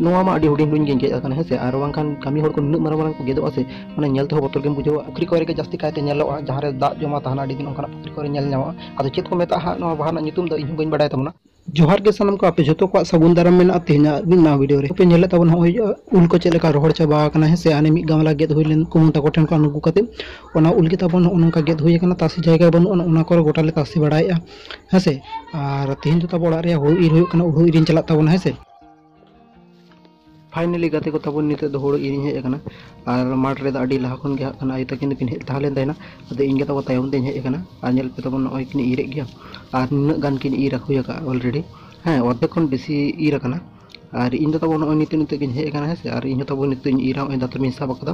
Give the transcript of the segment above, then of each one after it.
ᱱᱚᱣᱟ ᱢᱟ ᱟᱹᱰᱤ ᱦᱩᱰᱤᱧ ᱦᱩᱰᱤᱧ ᱜᱮᱧ ᱜᱮᱡ ᱟᱠᱟᱱᱟ ᱦᱮᱸ ᱥᱮ ᱟᱨ ᱵᱟᱝᱠᱷᱟᱱ ᱠᱟᱹᱢᱤ ᱦᱚᱲ ᱠᱚ ᱱᱩᱱᱟᱹᱜ ᱢᱟᱨᱟᱝ ᱢᱟᱨᱟᱝ ᱠᱚ ᱜᱮᱫᱚᱜᱼᱟ ᱥᱮ ᱢᱟᱱᱮ ᱧᱮᱞ ᱛᱮᱦᱚᱸ ᱵᱚᱛᱚᱨ ᱜᱮᱢ ᱵᱩᱡᱷᱟᱹᱣᱟ ᱯᱩᱠᱷᱨᱤ ᱠᱚᱨᱮ ᱜᱮ ᱡᱟᱹᱥᱛᱤ ᱠᱟᱭᱛᱮ ᱧᱮᱞᱚᱜᱼᱟ ᱡᱟᱦᱟᱸ ᱨᱮ ᱫᱟᱜ ᱡᱚᱢᱟ ᱛᱟᱦᱮᱱᱟ ᱟᱹᱰᱤ ᱫᱤᱱ ᱚᱱᱠᱟᱱᱟᱜ ᱯᱩᱠᱷᱨᱤ ᱠᱚᱨᱮ ᱧᱮᱞ ᱧᱟᱢᱚᱜᱼᱟ ᱟᱫᱚ ᱪᱮᱫ ᱠᱚ ᱢᱮᱛᱟᱜᱼᱟ ᱦᱟᱸᱜ ᱱᱚᱣᱟ ᱵᱟᱦᱟ ᱨᱮᱱᱟᱜ ᱧᱩᱛᱩᱢ ᱫᱚ ᱤᱧ ᱦᱚᱸ ᱵᱟᱹᱧ ᱵᱟᱰᱟᱭ ᱛᱟᱵᱚᱱᱟ ᱡᱚᱦᱟᱨ ᱜᱮ ᱥᱟᱱᱟᱢ ᱠᱚ ᱟᱯᱮ ᱡᱚᱛᱚ ᱠᱚᱣᱟᱜ ᱥᱟᱹᱜᱩᱱ ᱫᱟᱨᱟᱢ ᱢᱮᱱᱟᱜᱼᱟ ᱛᱮᱦᱮᱧᱟᱜ ᱢᱤᱫ ᱱᱟᱣᱟ ᱵᱷᱤᱰᱤᱭᱳ ᱨᱮ ᱟᱯᱮ ᱧᱮᱞᱮᱫ ᱛᱟᱵᱚᱱ ᱦᱚᱸᱜᱼᱚᱭ ᱩᱞ ᱠᱚ ᱪᱮᱫ ᱞᱮᱠᱟ ᱨᱚᱦᱚᱲ ᱪᱟᱵᱟ ᱟᱠᱟᱱᱟ ᱦᱮᱸ ᱥᱮ ᱦᱟᱱᱮ ᱢᱤᱫ ᱜᱟᱢᱞᱟ ᱜᱮᱫ ᱦᱩᱭ ᱞᱮᱱ ᱠᱩᱢᱩ ᱛᱟᱠᱚ ᱴᱷᱮᱱ ᱠᱷᱚᱱ ᱟᱹᱜᱩ ᱠᱟᱛᱮ ᱚᱱᱟ ᱩᱞ ᱜᱮ ᱛᱟᱵᱚᱱ ᱱᱚᱜᱼᱚ ᱱᱚᱝᱠᱟ ᱜᱮᱫ ᱦᱩᱭ ᱟᱠᱟᱱᱟ ᱛᱟᱥᱮ ᱡᱟᱭᱜᱟ ᱵᱟᱹᱱᱩᱜᱼᱟ ᱱᱚᱜᱼᱚ ᱱᱚᱣᱟ ᱠᱚᱨᱮ ᱜᱚᱴᱟ ᱞᱮ ᱛᱟᱥᱮ ᱵᱟᱲᱟᱭᱮᱫᱼᱟ ᱦᱮᱸ ᱥᱮ ᱟᱨ ᱛᱮᱦᱮᱧ ᱫᱚ ᱛᱟᱵᱚ ᱚᱲᱟᱜ ᱨᱮᱭᱟᱜ ᱦᱩᱲᱩ ᱤᱨ ᱦᱩᱭᱩᱜ ᱠᱟᱱᱟ ᱦᱩᱲᱩ ᱤᱨᱤᱧ ᱪᱟᱞᱟᱜ ᱛᱟᱵᱚᱱᱟ ᱦᱮᱸ ᱥᱮ ᱯᱷᱟᱭᱱᱮᱞᱤ ᱜᱟᱛᱮ ᱠᱚ ᱛᱟᱵᱚᱱ ᱱᱤᱛᱚᱜ ᱫᱚ ᱦᱳᱲᱳ ᱤᱨᱤᱧ ᱦᱮᱡ ᱟᱠᱟᱱᱟ ᱟᱨ ᱢᱟᱴᱷ ᱨᱮᱫᱚ ᱟᱹᱰᱤ ᱞᱟᱦᱟ ᱠᱷᱚᱱ ᱜᱮ ᱦᱟᱸᱜ ᱠᱷᱟᱱ ᱟᱭᱳ ᱛᱟᱹᱠᱤᱱ ᱫᱚᱠᱤᱱ ᱦᱮᱡ ᱛᱟᱦᱮᱸ ᱞᱮᱱ ᱛᱟᱦᱮᱱᱟ ᱟᱫᱚ ᱤᱧ ᱜᱮ ᱛᱟᱵᱚ ᱛᱟᱭᱚᱢ ᱛᱮᱧ ᱦᱮᱡ ᱟᱠᱟᱱᱟ ᱟᱨ ᱧᱮᱞ ᱯᱮ ᱛᱟᱵᱚᱱ ᱱᱚᱜᱼᱚᱭ ᱠᱤᱱ ᱤᱨᱮᱫ ᱜᱮᱭᱟ ᱟᱨ ᱱᱩᱱᱟᱹᱜ ᱜᱟᱱ ᱠᱤᱱ ᱤᱨ ᱦᱩᱭ ᱟᱠᱟᱫᱼᱟ ᱚᱞᱨᱮᱰᱤ ᱦᱮᱸ ᱚᱨᱫᱷᱮᱠ ᱠᱷᱚᱱ ᱵᱮᱥᱤ ᱤᱨ ᱟᱠᱟᱱᱟ ᱟᱨ ᱤᱧ ᱫᱚ ᱛᱟᱵᱚ ᱱᱚᱜᱼᱚᱭ ᱱᱤᱛᱚᱜ ᱱᱤᱛᱚᱜ ᱜᱤᱧ ᱦᱮᱡ ᱟᱠᱟᱱᱟ ᱦᱮᱸ ᱥᱮ ᱟᱨ ᱤᱧ ᱦᱚᱸ ᱛᱟᱵᱚ ᱱᱤᱛᱚᱜ ᱤᱧ ᱤᱨᱟ ᱱᱚᱜᱼᱚᱭ ᱫᱟᱛᱨᱚᱢᱤᱧ ᱥᱟᱵ ᱟᱠᱟᱫᱟ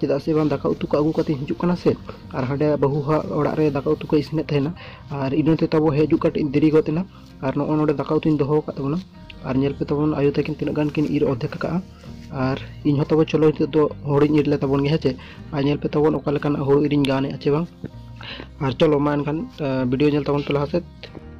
ᱪᱮᱫᱟᱜ ᱥᱮ ᱵᱟᱝ ᱫᱟᱠᱟ ᱩᱛᱩ ᱠᱚ ᱟᱹᱜᱩ ᱠᱟᱛᱮ ᱦᱤᱡᱩᱜ ᱠᱟᱱᱟ ᱥᱮ ᱟᱨ ᱦᱟᱸᱰᱮ ᱵᱟᱹᱦᱩ ᱦᱟᱜ ᱚᱲᱟᱜ ᱨᱮ ᱫᱟᱠᱟ ᱩᱛᱩ ᱠᱚ ᱤᱥᱤᱱᱮᱫ ᱛᱟᱦᱮᱱᱟ ᱟᱨ ᱤᱱᱟᱹ ᱛᱮ ᱛᱟᱵᱚ ᱦᱤᱡᱩᱜ ᱠᱟᱹᱴᱤᱡ ᱫᱮᱨᱤ ᱜᱚᱫ ᱮᱱᱟ ᱟᱨ ᱱᱚᱜᱼᱚ ᱱᱚᱰᱮ ᱫᱟᱠᱟ ᱩᱛᱩᱧ ᱫᱚᱦᱚ ᱟᱠᱟᱫ ᱛᱟᱵᱚᱱᱟ ᱟᱨ ᱧᱮᱞ ᱯᱮ ᱛᱟᱵᱚᱱ ᱟᱭᱳ ᱛᱟᱹᱠᱤᱱ ᱛᱤᱱᱟᱹᱜ ᱜᱟᱱ ᱠᱤᱱ ᱤᱨ ᱚᱨᱫᱷᱮᱠ ᱟᱠᱟᱜᱼᱟ ᱟᱨ ᱤᱧ ᱦᱚᱸ ᱛᱟᱵᱚ ᱪᱚᱞᱚ ᱱᱤᱛᱚᱜ ᱫᱚ ᱦᱩᱲᱩᱧ ᱤᱨ ᱞᱮ ᱛᱟᱵᱚᱱ ᱜᱮ ᱦᱮᱸ ᱪᱮ ᱟᱨ ᱧᱮᱞ ᱯᱮ ᱛᱟᱵᱚᱱ ᱚᱠᱟ ᱞᱮᱠᱟᱱᱟᱜ ᱦᱩᱲᱩ ᱤᱨᱤᱧ ᱜᱟᱱᱮᱫᱼᱟ ᱪᱮ ᱵᱟᱝ ᱟᱨ ᱪᱚᱞᱚ ᱢᱟ ᱮᱱᱠᱷᱟᱱ ᱵᱷᱤᱰᱤᱭᱳ ᱧᱮᱞ ᱛᱟᱵᱚᱱ ᱯᱮ ᱞᱟᱦᱟ ᱥᱮᱫ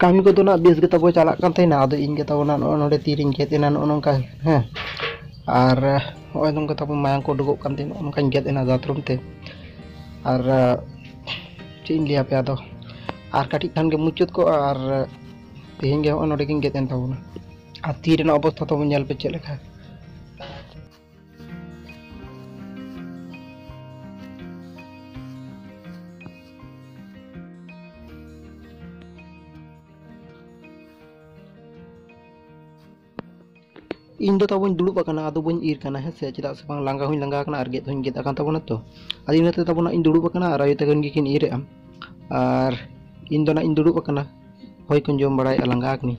ᱠᱟᱹᱢᱤ ᱠᱚᱫᱚ ᱱᱟᱜ ᱵᱮᱥ ᱜᱮ ᱛᱟᱵᱚ ᱪᱟᱞᱟᱜ ᱠᱟᱱ ᱛᱟᱦᱮᱱᱟ ᱟᱫᱚ ᱤᱧ ᱜᱮ ᱛᱟᱵᱚ ᱱᱟᱜ ᱱᱚᱜᱼᱚ ᱱᱚᱰᱮ ᱛᱤᱨᱤᱧ ᱜᱮᱫ ᱮᱱᱟ ᱱᱚᱜᱼᱚ ᱱᱚᱝᱠᱟ ᱦᱮᱸ ᱟᱨ ᱱᱚᱜᱼᱚᱭ ᱱᱚᱝᱠᱟ ᱛᱟᱵᱚ ᱢᱟᱭᱟᱝ ᱠᱚ ᱩᱰᱩᱠᱚᱜ ᱠᱟᱱ ᱛᱟᱦᱮᱱᱟ ᱱᱚᱜᱼᱚ ᱱᱚᱝᱠᱟᱧ ᱜᱮᱫ ᱮᱱᱟ ᱫᱟᱛᱨᱚᱢ ᱛᱮ ᱟᱨ ᱪᱮᱫ ᱤᱧ ᱞᱟᱹᱭᱟᱯᱮ ᱟᱫᱚ ᱟᱨ ᱠᱟᱹᱴᱤᱡ ᱠᱷᱟᱱ ᱜᱮ ᱢᱩᱪᱟᱹᱫ ᱠᱚᱜᱼᱟ ᱟᱨ ᱛᱮᱦᱮᱧ ᱜᱮ ᱱᱚᱜᱼᱚᱭ ᱱᱚᱰᱮ ᱜᱤᱧ ᱜᱮᱫ ᱮᱱ ᱛᱟᱵᱚᱱᱟ ᱟᱨ ᱛᱤ ᱨᱮᱱᱟᱜ ᱚᱵᱚᱥᱛᱷᱟ ᱛᱟᱵᱚᱱ ᱧᱮᱞ ᱯᱮ ᱪᱮᱫ ᱞᱮᱠᱟ ᱤᱧ ᱫᱚ ᱛᱟᱵᱚᱧ ᱫᱩᱲᱩᱵ ᱟᱠᱟᱱᱟ ᱟᱫᱚ ᱵᱟᱹᱧ ᱤᱨ ᱠᱟᱱᱟ ᱦᱮᱸ ᱥᱮ ᱪᱮᱫᱟᱜ ᱥᱮ ᱵᱟᱝ ᱞᱟᱸᱜᱟ ᱦᱚᱸᱧ ᱞᱟᱸᱜᱟ ᱟᱠᱟᱱᱟ ᱟᱨ ᱜᱮᱫ ᱦᱚᱸᱧ ᱜᱮᱫ ᱟᱠᱟᱱ ᱛᱟᱵᱚᱱᱟ ᱛᱚ ᱟᱫᱚ ᱤᱱᱟᱹᱛᱮ ᱛᱟᱵᱚᱱᱟ ᱤᱧ ᱫᱩᱲᱩᱵ ᱟᱠᱟᱱᱟ ᱟᱨ ᱟᱭᱳ ᱛᱟᱹᱠᱤᱱ ᱜᱮᱠᱤᱱ ᱤᱨᱮᱜᱼᱟ ᱟᱨ ᱤᱧ ᱫᱚ ᱱᱟᱜ ᱤᱧ ᱫᱩᱲᱩᱵ ᱟᱠᱟᱱᱟ ᱦᱚᱭ ᱠᱚᱧ ᱡᱚᱢ ᱵᱟᱲᱟᱭᱮᱫᱼᱟ ᱞᱟᱸᱜᱟ ᱟᱠᱟᱱᱟᱹᱧ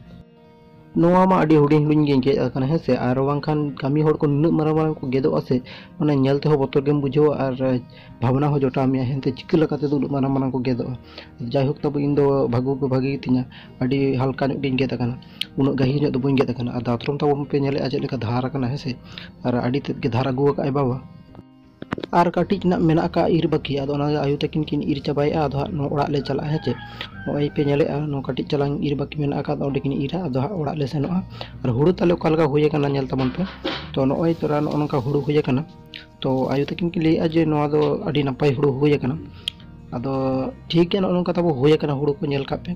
ᱱᱚᱣᱟ ᱢᱟ ᱟᱹᱰᱤ ᱦᱩᱰᱤᱧ ᱦᱩᱰᱤᱧ ᱜᱮ ᱜᱮᱫ ᱟᱠᱟᱱᱟ ᱦᱮᱸ ᱥᱮ ᱟᱨ ᱵᱟᱝᱠᱷᱟᱱ ᱠᱟᱹᱢᱤ ᱦᱚᱲ ᱠᱚ ᱱᱩᱱᱟᱹᱜ ᱢᱟᱨᱟᱝ ᱢᱟᱨᱟᱝ ᱠᱚ ᱜᱮᱫᱚᱜᱼᱟ ᱥᱮ ᱢᱟᱱᱮ ᱧᱮᱞ ᱛᱮᱦᱚᱸ ᱵᱚᱛᱚᱨ ᱜᱮᱢ ᱵᱩᱡᱷᱟᱹᱣᱟ ᱟᱨ ᱵᱷᱟᱵᱽᱱᱟ ᱦᱚᱸ ᱡᱚᱴᱟᱣ ᱢᱮᱭᱟ ᱦᱮᱸᱛᱮ ᱪᱤᱠᱟᱹ ᱞᱮᱠᱟ ᱛᱮᱫᱚ ᱩᱱᱟᱹᱜ ᱢᱟᱨᱟᱝ ᱢᱟᱨᱟᱝ ᱠᱚ ᱜᱮᱫᱚᱜᱼᱟ ᱡᱟᱭᱦᱳᱠ ᱛᱚᱵᱮ ᱤᱧ ᱫᱚ ᱵᱷᱟᱜᱮ ᱠᱚ ᱵᱷᱟᱜᱮ ᱜᱮᱛᱤᱧᱟ ᱟᱹᱰᱤ ᱦᱟᱞᱠᱟ ᱧᱚᱜ ᱜᱤᱧ ᱜᱮᱫ ᱟᱠᱟᱱᱟ ᱩᱱᱟᱹᱜ ᱜᱟᱹᱦᱤᱨ ᱧᱚᱜ ᱫᱚ ᱵᱟᱹᱧ ᱜᱮᱫ ᱟᱠᱟᱱᱟ ᱟᱨ ᱫᱟᱛᱨᱚᱢ ᱛᱟᱵᱚᱱ ᱯᱮ ᱧᱮᱞᱮᱫᱼᱟ ᱪᱮᱫ ᱞᱮᱠᱟ ᱫᱷᱟᱨ ᱟᱠᱟᱱᱟ ᱦᱮᱸ ᱥᱮ ᱟᱨ ᱟᱹᱰᱤ ᱛᱮᱫ ᱜᱮ ᱫᱷᱟᱨ ᱟᱹᱜᱩ ᱟᱠᱟᱫ ᱟᱭ ᱵᱟᱵᱟ ᱟᱨ ᱠᱟᱹᱴᱤᱡ ᱱᱟᱜ ᱢᱮᱱᱟᱜ ᱟᱠᱟᱫ ᱤᱨ ᱵᱟᱹᱠᱤ ᱟᱫᱚ ᱚᱱᱟ ᱟᱭᱳ ᱛᱟᱹᱠᱤᱱ ᱠᱤᱱ ᱤᱨ ᱪᱟᱵᱟᱭᱮᱫᱼᱟ ᱟᱫᱚ ᱦᱟᱸᱜ ᱱᱚᱣᱟ ᱚᱲᱟᱜ ᱞᱮ ᱪᱟᱞᱟᱜᱼᱟ ᱦᱮᱸ ᱪᱮ ᱱᱚᱜᱼᱚᱭ ᱯᱮ ᱧᱮᱞᱮᱫᱼᱟ ᱱᱚᱣᱟ ᱠᱟᱹᱴᱤᱡ ᱪᱟᱞᱟᱝ ᱤᱨ ᱵᱟᱹᱠᱤ ᱢᱮᱱᱟᱜ ᱟᱠᱟᱫ ᱚᱸᱰᱮ ᱠᱤᱱ ᱤᱨᱟ ᱟᱫᱚ ᱦᱟᱸᱜ ᱚᱲᱟᱜ ᱞᱮ ᱥᱮᱱᱚᱜᱼᱟ ᱟᱨ ᱦᱩᱲᱩ ᱛᱟᱞᱮ ᱚᱠᱟ ᱞᱮᱠᱟ ᱦᱩᱭ ᱟᱠᱟᱱᱟ ᱧᱮᱞ ᱛᱟᱵᱚᱱ ᱯᱮ ᱛᱚ ᱱᱚᱜᱼᱚᱭ ᱛᱚᱨᱟ ᱱᱚᱜᱼᱚ ᱱᱚᱝᱠᱟ ᱦᱩᱲᱩ ᱦᱩᱭ ᱟᱠᱟᱱᱟ ᱛᱚ ᱟᱭᱳ ᱛᱟᱹᱠᱤᱱ ᱠᱤᱱ ᱞᱟᱹᱭᱮᱫᱼᱟ ᱡᱮ ᱱᱚᱣᱟ ᱫᱚ ᱟᱹᱰᱤ ᱱᱟᱯᱟᱭ ᱦᱩᱲᱩ ᱦᱩᱭ ᱟᱠᱟᱱᱟ ᱟᱫᱚ ᱴᱷᱤᱠ ᱜᱮᱭᱟ ᱱᱚᱜᱼᱚ ᱱᱚᱝᱠᱟ ᱛᱟᱵᱚ ᱦᱩᱭ ᱟᱠᱟᱱᱟ ᱦᱩᱲᱩ ᱠᱚ ᱧᱮᱞ ᱠᱟᱜ ᱯᱮ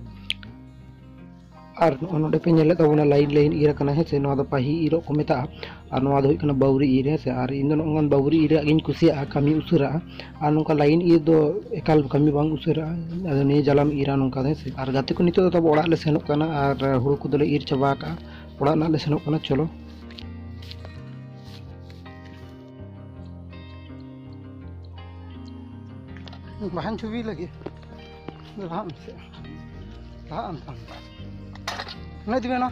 ᱟᱨ ᱱᱚᱜᱼᱚᱭ ᱱᱚᱰᱮ ᱯᱮ ᱧᱮᱞᱮᱫ ᱛᱟᱵᱚᱱᱟ ᱞᱟᱭᱤᱱ ᱞᱟᱭᱤᱱ ᱤᱨ ᱟᱠᱟᱱᱟ ᱦᱮᱸ ᱥᱮ ᱱᱚᱣᱟ ᱫᱚ ᱯᱟᱹᱦᱤ ᱤᱨᱚᱜ ᱠᱚ ᱢᱮᱛᱟᱜᱼᱟ ᱟᱨ ᱱᱚᱣᱟ ᱫᱚ ᱦᱩᱭᱩᱜ ᱠᱟᱱᱟ ᱵᱟᱹᱣᱨᱤ ᱤᱨ ᱦᱮᱸ ᱥᱮ ᱟᱨ ᱤᱧ ᱫᱚ ᱱᱚᱜᱼᱚᱭ ᱵᱟᱹᱣᱨᱤ ᱤᱨᱟᱜ ᱜᱤᱧ ᱠᱩᱥᱤᱭᱟᱜᱼᱟ ᱠᱟᱹᱢᱤ ᱩᱥᱟᱹᱨᱟᱜᱼᱟ ᱟᱨ ᱱᱚᱝᱠᱟ ᱞᱟᱭᱤᱱ ᱤᱨ ᱫᱚ ᱮᱠᱟᱞ ᱠᱟᱹᱢᱤ ᱵᱟᱝ ᱩᱥᱟᱹᱨᱟᱜᱼᱟ ᱟᱫᱚ ᱱᱤᱭᱟᱹ ᱡᱟᱞᱟᱢ ᱤᱨᱟ ᱱᱚᱝᱠᱟ ᱫᱚ ᱦᱮᱸ ᱥᱮ ᱟᱨ ᱜᱟᱛᱮ ᱠᱚ ᱱᱤᱛᱚᱜ ᱫᱚ ᱛᱟᱵᱚ ᱚᱲᱟᱜ ᱞᱮ ᱥᱮᱱᱚᱜ ᱠᱟᱱᱟ ᱟᱨ ᱦᱩᱲᱩ ᱠᱚᱫᱚᱞᱮ ᱤᱨ ᱪᱟᱵᱟ ᱟᱠᱟᱜᱼᱟ ᱚᱲᱟᱜ ᱨᱮᱱᱟᱜ ᱞᱮ ᱥᱮᱱᱚᱜ ᱠᱟᱱᱟ ᱪᱚᱞᱚ ᱵᱟᱦᱟᱧ ᱪᱷᱚᱵᱤ ᱞᱟᱹᱜᱤᱫ ᱞᱟᱦᱟᱜ ᱢᱮᱥᱮ ᱞᱟᱦᱟᱜ ᱟᱢ ᱛᱟᱢ ᱚᱱᱟ ᱤᱫᱤ ᱢᱮᱱᱟ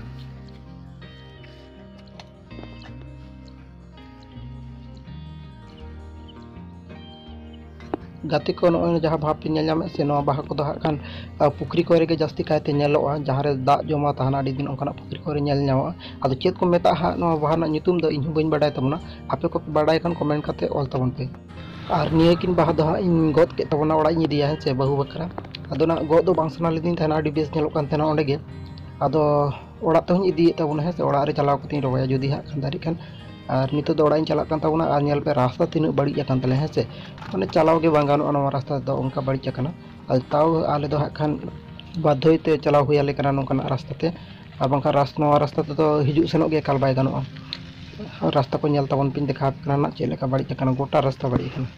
ᱜᱟᱛᱮ ᱠᱚ ᱱᱚᱜᱼᱚᱭ ᱡᱟᱦᱟᱸ ᱵᱷᱟᱵᱽ ᱯᱮ ᱧᱮᱞ ᱧᱟᱢᱮᱫ ᱥᱮ ᱱᱚᱣᱟ ᱵᱟᱦᱟ ᱠᱚᱫᱚ ᱦᱟᱸᱜ ᱠᱷᱟᱱ ᱟᱨ ᱯᱩᱠᱷᱨᱤ ᱠᱚᱨᱮ ᱜᱮ ᱡᱟᱹᱥᱛᱤ ᱠᱟᱭᱛᱮ ᱧᱮᱞᱚᱜᱼᱟ ᱡᱟᱦᱟᱸ ᱨᱮ ᱫᱟᱜ ᱡᱚᱢᱟ ᱛᱟᱦᱮᱱᱟ ᱟᱹᱰᱤ ᱫᱤᱱ ᱚᱱᱠᱟᱱᱟᱜ ᱯᱩᱠᱷᱨᱤ ᱠᱚᱨᱮ ᱧᱮᱞ ᱧᱟᱢᱚᱜᱼᱟ ᱟᱫᱚ ᱪᱮᱫ ᱠᱚ ᱢᱮᱛᱟᱜᱼᱟ ᱦᱟᱸᱜ ᱱᱚᱣᱟ ᱵᱟᱦᱟ ᱨᱮᱱᱟᱜ ᱧᱩᱛᱩᱢ ᱫᱚ ᱤᱧ ᱦᱚᱸ ᱵᱟᱹᱧ ᱵᱟᱰᱟᱭ ᱛᱟᱵᱚᱱᱟ ᱟᱯᱮ ᱠᱚᱯᱮ ᱵᱟᱰᱟᱭ ᱠᱷᱟᱱ ᱠᱚᱢᱮᱱᱴ ᱠᱟᱛᱮ ᱚᱞ ᱛᱟᱵᱚᱱ ᱯᱮ ᱟᱨ ᱱᱤᱭᱟᱹ ᱠᱤᱱ ᱵᱟᱦᱟ ᱫᱚ ᱦᱟᱸᱜ ᱤᱧ ᱜᱚᱫ ᱠᱮᱫ ᱛᱟᱵᱚᱱᱟ ᱚᱲᱟᱜ ᱤᱧ ᱤᱫᱤᱭᱟ ᱦᱮᱸ ᱥᱮ ᱵᱟᱹᱦᱩ ᱵᱟᱠᱷᱨᱟ ᱟᱫᱚ ᱱᱟᱜ ᱜᱚᱫ ᱫᱚ ᱵᱟᱝ ᱥᱟᱱᱟ ᱞᱤᱫᱤᱧ ᱛᱟᱦᱮᱱᱟ ᱟᱹᱰᱤ ᱵᱮᱥ ᱧᱮᱞᱚᱜ ᱠᱟᱱ ᱛᱟᱦᱮᱱᱟ ᱚᱸᱰᱮ ᱜᱮ ᱟᱫᱚ ᱚᱲᱟᱜ ᱛᱮᱦᱚᱧ ᱤᱫᱤᱭᱮᱫ ᱛᱟᱵᱚᱱᱟ ᱦᱮᱸ ᱥᱮ ᱚᱲᱟᱜ ᱨᱮ ᱪᱟᱞᱟᱣ ᱠᱟᱛᱮᱧ ᱨᱚᱦᱚᱭᱟ ᱡᱩᱫᱤ ᱦᱟᱸᱜ ᱠᱷᱟᱱ ᱫᱟᱨᱮᱜ ᱠᱷᱟᱱ ᱟᱨ ᱱᱤᱛᱚᱜ ᱫᱚ ᱚᱲᱟᱜ ᱤᱧ ᱪᱟᱞᱟᱜ ᱠᱟᱱ ᱛᱟᱵᱚᱱᱟ ᱟᱨ ᱧᱮᱞ ᱯᱮ ᱨᱟᱥᱛᱟ ᱛᱤᱱᱟᱹᱜ ᱵᱟᱹᱲᱤᱡ ᱟᱠᱟᱱ ᱛᱟᱞᱮᱭᱟ ᱦᱮᱸ ᱥᱮ ᱢᱟᱱᱮ ᱪᱟᱞᱟᱣ ᱜᱮ ᱵᱟᱝ ᱜᱟᱱᱚᱜᱼᱟ ᱱᱚᱣᱟ ᱨᱟᱥᱛᱟ ᱫᱚ ᱚᱱᱠᱟ ᱵᱟᱹᱲᱤᱡ ᱟᱠᱟᱱᱟ ᱟᱫᱚ ᱛᱟᱣ ᱟᱞᱮ ᱫᱚ ᱦᱟᱸᱜ ᱠᱷᱟᱱ ᱵᱟᱫᱽᱫᱷᱚᱭ ᱛᱮ ᱪᱟᱞᱟᱣ ᱦᱩᱭ ᱟᱞᱮ ᱠᱟᱱᱟ ᱱᱚᱝᱠᱟᱱᱟᱜ ᱨᱟᱥᱛᱟ ᱛᱮ ᱟᱨ ᱵᱟᱝᱠᱷᱟᱱ ᱨᱟᱥ ᱱᱚᱣᱟ ᱨᱟᱥᱛᱟ ᱛᱮᱫᱚ ᱦᱤᱡᱩᱜ ᱥᱮᱱᱚᱜ ᱜᱮ ᱮᱠᱟᱞ ᱵᱟᱭ ᱜᱟᱱᱚᱜᱼᱟ ᱟᱨ ᱨᱟᱥᱛᱟ ᱠᱚ ᱧᱮᱞ ᱛᱟᱵᱚᱱ ᱯᱮᱧ ᱫᱮᱠᱷᱟᱣ ᱟᱯᱮ ᱠᱟᱱᱟ ᱱᱟᱜ ᱪᱮᱫ ᱞᱮᱠᱟ ᱵᱟᱹᱲᱤᱡ ᱟᱠᱟᱱᱟ ᱜᱚᱴᱟ ᱨᱟᱥᱛᱟ ᱵᱟᱹᱲᱤᱡ ᱟᱠᱟᱱᱟ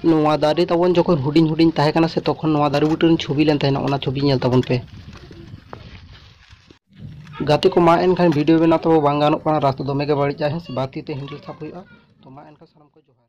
ᱱᱚᱣᱟ ᱫᱟᱨᱮ ᱛᱟᱵᱚᱱ ᱡᱚᱠᱷᱚᱱ ᱦᱩᱰᱤᱧ ᱦᱩᱰᱤᱧ ᱛᱟᱦᱮᱸ ᱠᱟᱱᱟ ᱥᱮ ᱛᱚᱠᱷᱚᱱ ᱱᱚᱣᱟ ᱫᱟᱨᱮ ᱵᱩᱴᱟᱹ ᱨᱮᱱ ᱪᱷᱚᱵᱤ ᱞᱮᱱ ᱛᱟᱦᱮᱱᱟ ᱚᱱᱟ ᱪᱷᱚᱵᱤ ᱧᱮᱞ ᱛᱟᱵᱚᱱ ᱯᱮ ᱜᱟᱛᱮ ᱠᱚ ᱢᱟ ᱮᱱᱠᱷᱟᱱ ᱵᱷᱤᱰᱭᱳ ᱵᱮᱱᱟᱣ ᱛᱚ ᱵᱟᱝ ᱜᱟᱱᱚᱜ ᱠᱟᱱᱟ ᱨᱟᱥᱛᱟ ᱫᱚᱢᱮ ᱜᱮ ᱵᱟᱹᱲᱤᱡᱼᱟ ᱦᱮᱸ ᱥᱮ ᱵᱟᱨ ᱛᱤ ᱛᱮ ᱦᱮᱱᱰᱮᱞ ᱥᱟᱵ ᱦᱩᱭᱩᱜᱼᱟ ᱛᱚ ᱢᱟ ᱮᱱᱠᱷᱟᱱ ᱥᱟᱱᱟᱢ ᱠᱚ ᱡᱚᱦᱟᱨ